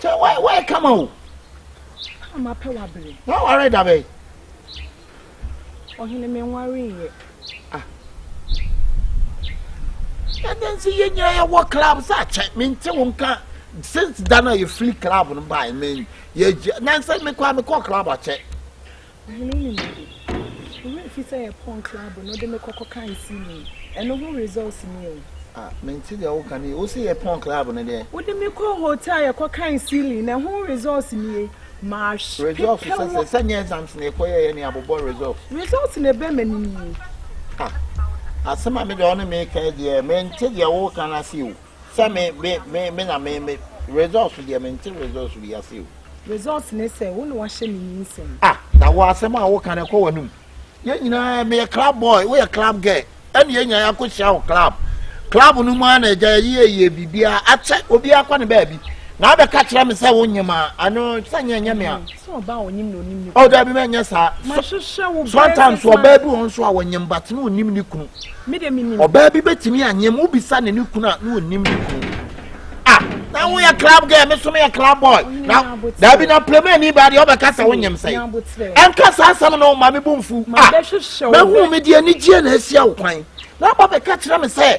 Sɛ wayɛ wayɛ kama o. Ama pɛ wa bere. Wa ware da bɛyi. Ɔhene me nware yɛ. Ah. Ɛdɛ nsi yɛ nyina yɛ wɔ club sɛ akyɛ me nte wo nka since da na yɛ fili club no baa me yɛ gye na nsɛ me kɔ a me kɔ club akyɛ. Ɔhene no nim ade. Wo werɛ fi sɛ yɛ pɔn club no de me kɔ kɔ kan see me yi. Ɛno ho results ni o. Ah me nte deɛ wo ka no yie. Wo se yɛ pɔn club no deɛ. Wo de me kɔ hotel yɛ kɔ kan sealing no ɛho results nie. Ma hwe pepɛ wo. Results sɛ sɛ sɛ nyɛ exams na yɛkɔ yɛɛyɛ ne abobɔ results. Results na ɛbɛ m'anim yi. Ah asɛm a me deɛ wo ne me reka yi deɛ me nte deɛ wo reka no ase o. Sɛ me me me me na me me results deɛ me nte results bi ase o. Results ne sɛ wo na wahyɛ me nyinsɛn. Ah na wɔ asɛm a woka no ɛkɔ w'anum. Yɛn nyinaa meyɛ club boy woyɛ club girl ɛne yɛn nyinaa yɛakɔ hyia wɔ club club no mu ara na agya yɛyi ayie biribiara akyɛ obiara kɔ ne baabi na abɛka kyerɛ me sɛ wo nyema ano sɛ nyɛ nyɛ me a. Oh, dabi mɛ nyɛ saa. Sometimes ɔbaa bi wɔn nso a wɔnyem bate na onim ne kunu. Ɔbaa bi betumi anyem wobisa ne ne kunu a na onim ne kunu. Ah, na wo yɛ club girl, me so me yɛ club boy. Na dabi na plema ni ba de ɔbɛka sɛ wonyem sɛ. Ɛnka saa asɛm no ma me bu mfu. Ah, bɛhu me deɛ anigyeɛ na asia wo kwan. Na aba bɛka kyerɛ me sɛ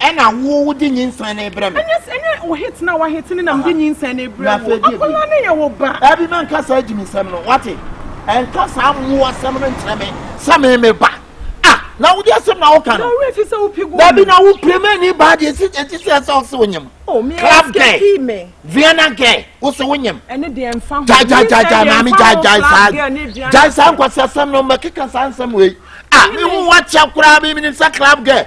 Ɛna wo wo de nyinsɛn na ebrɛ me. Ɛnyɛ ɛnyɛ wo hit na wa hit ne na me de nyinsɛn na ebrɛ wo. Akɔla ne yɛ wo ba. Dabi mɛ nka saa gyimi nsɛm no wate. Ɛnka saa mmoa sɛm no nkyerɛ me sɛ me me ba. Ah na wo de asɛm na wo ka no. Na ɔwura fi sɛ wo pegu. Dabi na wo pere mɛ ni ba deɛ si ɛti sɛ ɛsɛ ɔsi wo nyim. Oh me escape me. Viana gɛ wo si wo nyim. Ɛne deɛ nfa ho. Gya gya gya gya maame gya gya saa gya saa nkwasi asɛm no mɛ keka saa nsɛm wei. Ah me ho wa kyɛ koraa mi mi ni sɛ club gɛ.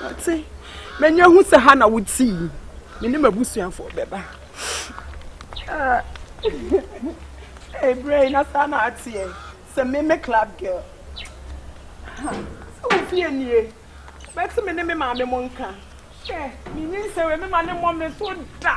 Mate. M'ani ahu sɛ ha na wote yi. Me ne m'abusuafoɔ bɛba. Ebere yi na saa na ateɛ. Sɛ me me club girl. Sɛ wo fie nie. Bɛte me ne me maame mo nka. Hwɛ, me nyi nsɛ wei me ma ne mmɔ me so da.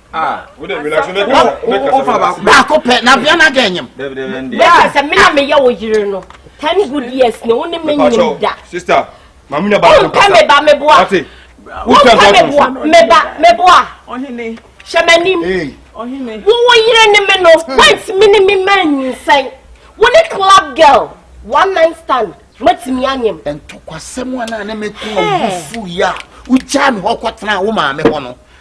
baako pɛ na bia na dɛ nyem bɛka sɛ me na meyɛ wo yere no ten good years ne wo ne me nyem da wompɛ me ba meboa wompɛ meboa meba meboa hyɛ m'anim wo wo yere ne me no hmm. woantumi ne me ma nyinsɛn wo ne club girl one night stand matumi anyem ntɔkwasɛm a na ne meko a wofu yi a wogyaa me hɔ kɔtena wo maame hɔ no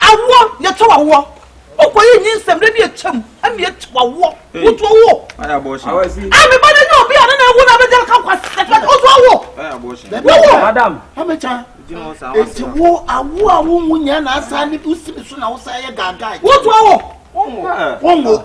Awoɔ, yɛtwa w'awoɔ. Wokɔyɛ nyinsɛm berɛ bi atwam ɛna yɛtwa w'awoɔ. Wotu awo. A me ba no nyɛ obi a ne na awu na abɛgya ka kwa sɛfɛ wotu awo. Wowo. Madam. Amecha. Eti wo awo a wo nwu nyɛ na asa ne wo si ne so na wo sa yɛ gaagaa. Wotu awo. Wongo. Wongo.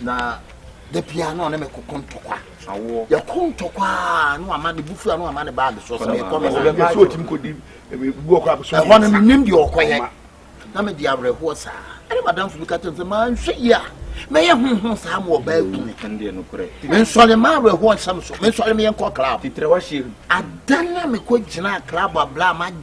na da biara na ɔne me kɔkɔ ntɔkwa yɛkɔ ntɔkwa na wama ne bufu a na wama ne baage soɔ sɛ mekɔ me ɛhɔ no menim deɛ ɔkɔyɛ na mede awerɛhoɔ saa ɛne madamfo bi ka kyɛm sɛ manhwɛ yi a mɛyɛ honhom saa ma ɔbaa kumi mensɔre ma awerɛhoɔ nsɛm so mensɔre meyɛ nkɔ club ada na mekɔ gyinaa club abla ma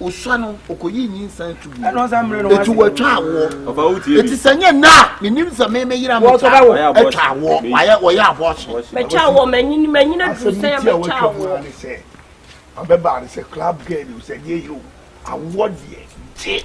Osua no, ɔkɔyii nyinsɛn to gui. Eti wɔatwa awoɔ. Eti sɛ nyɛ nnɛ a menim sɛ me me yere a metwa atwa awoɔ wayɛ wɔyɛ abɔɔhye. Mɛtwa awoɔ manyini manyini aduru sɛn a mɛtwa awoɔ. Abɛbaa no sɛ club girl o sɛ deɛ yɛ o awoɔ deɛ gye.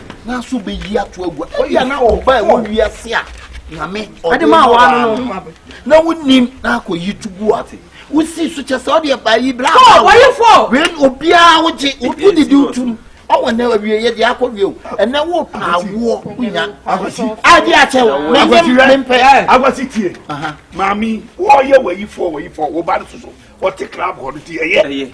nanso bɛyi ato agua ebia na ɔba ɛwɔ wiase a nyame ɔde ma wa no na wonim na akɔyi to gu ate wosi so kyɛ sɛ ɔde ɛba yi bra wɛn obiara wogye wode di wotum ɔwɔ nɛ awie yɛ deɛ akɔ wie o ɛnɛ wo paa woɔ wonya ade akyɛ wo mempɛ akwasi tie maame wɔyɛ wayifoɔ wayifoɔ wo ba no soso ɔte club hɔ no ti ɛyɛ